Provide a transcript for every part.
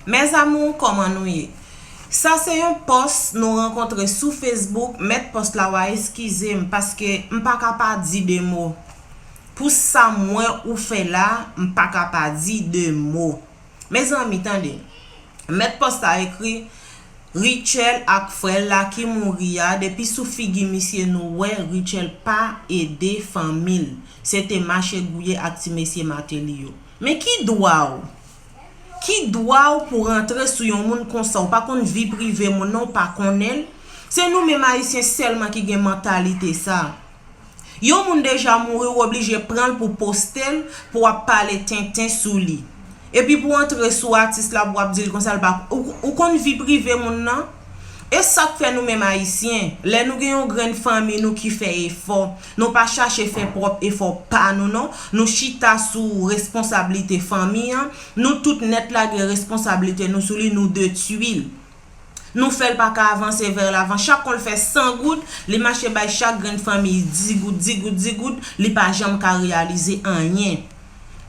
Mes amours koman nou ye. Sa se yon pòs nou rankontre sou Facebook mèt pòs la wa eskizem paske m paka pa di 2 mo pou sam wè ou fè la m paka pa di 2 mo mezanmi tande mèt pòs la ekri Rutshelle ak frèl la ki mouri a depi sou figi misye nou wè Rutshelle pa ede fanmil se te mache gouye ak ti mesye Martelly yo men ki dwa w Ki dwa w pou rantre sou yon moun konsa w pa konn vi prive moun nan w pa konnen l, se nou menm ayisyen sèlman ki gen mantalite sa. Yon moun deja mouri w oblije pran l pou poste l pou wap pale tenten sou li. Epi pou w antre sou atis la pou wap di l konsa l pa ou konn vi prive moun nan? E sak fè nou menm ayisyen lè nou gen yon grenn fanmi nou ki fè efò Nou pa chache fè pwòp efò pa nou non, nou chita sou responsablite fanmi an, nou tout nèt lage responsablite nou sou li nou 2 tuil. Nou fèl pa ka avanse vè lavan chak konl fè 100 goud li mache bay chak grenn fanmiy 10 goud 10 goud 10 goud li pa janm ka reyalize anyen.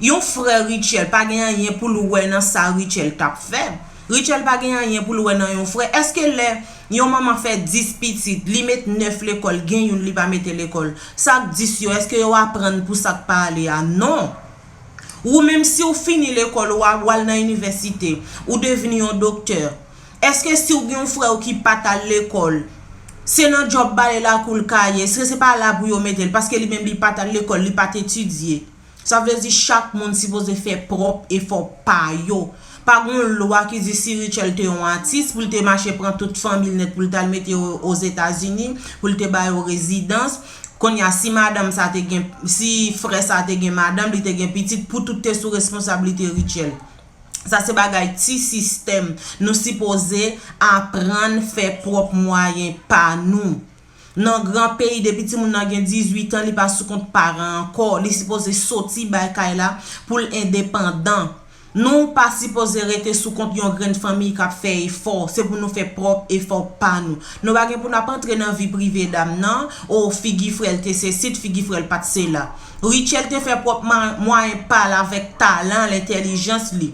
Yon frè Rutshelle pa gen anyen pou l wè nan sa Rutshelle t ap fè. Rutshelle pa gen anyen pou l wè nan yon frè. Èske lè yon manman fè 10 pitit, li met 9 lekòl, gen youn li pa mete lekòl, sa k 10 yo, èske yo aprann pou sa k pa ale a? Non! Ou menm si w fini lekòl ou, w al nan inivèsite, ou devni yon doktè, Eske si w gen yon frè w ki pa t al lekòl, se nan djòb bale lakou l ka ye? Eske se pa la pou yo mete l? Paske li menm li pa t al lekòl, li pa t etidye. Sa vle di chak moun sipoze fè pwòp efò pa yo. Pa gen yon lwa ki di si Rutshelle te yon atis pou l te mache pran tout fanmi l nèt pou l t al mete yo Ozetazini, pou l te ba yo rezidans. Kounye a, si madanm sa te gen, si frè sa te gen madanm, li te gen pitit, pou tout te sou responsablite Rutshelle. Sa se bagay ti sistèm nou sipoze aprann fè pwòp mwayen pa nou. Nan gran peyi depi timoun nan gen 18 an li pa sou kont paran ankò, li sipoze soti bay kay la pou l endepandan. Nou pa sipoze rete sou kont yon grenn fanmiy k ap fè efò, se pou nou fè pwòp efò pa nou. Nou pa gen pou n ap antre nan vi prive dam nan, o figi frè l te sesi, t figi frè l pa t sela. Rutshelle te fè pwòp mwayen pa l avèk talan l, entèlijans li,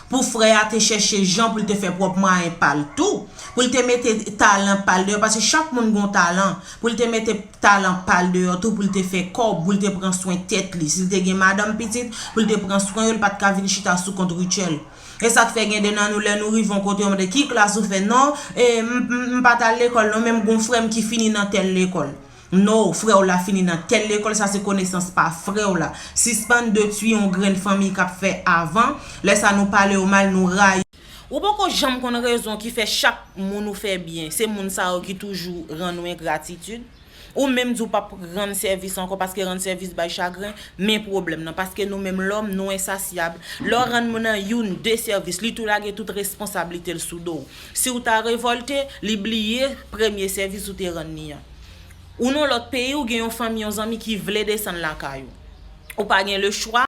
pou frè a te chèche jan pou l te fè pwòp mwayen pa l tou, pou l te mete talan pa l deyò, paske chak moun gen yon talan, pou l te mete talan pa l deyò tou pou l te fè kòb, pou l te pran swen tèt li. Si l te gen madanm, pitit, pou l te pran swen yo, li pa t ka vin chita sou kont Rutshelle. E sa k fè gen de nan nou lè nou rive yon kote yo mande, ki klas ou fè? Non, e, m, m pa t al lekòl non, men m gen yon frè m ki fini nan tèl lekòl. No frèw la fini nan tèl lekòl sa se konesans pa frèw la sispann detwi yon grenn fanmiy kap fè avan lè sa nou pale yo mal nou rayi yo. Ou poko janm konn rezon ki fè chak Moun ou fè byen se Moun sa yo ki toujou rann ou engratitud ou menm di ou pap rann sèvis ankò paske rann sèvis bay chagren men pwoblèm nan paske nou menm lòm nou ensasyab lè w rann Moun nan youn de sèvis li tou lage tout responsablitel sou dow siw ta revòlte li bliye premye sèvis ou te rann li an. Ou nan lòt peyi ou gen yon fanmi yon zanmi ki vle desann lakay ou. Ou pa gen le chwa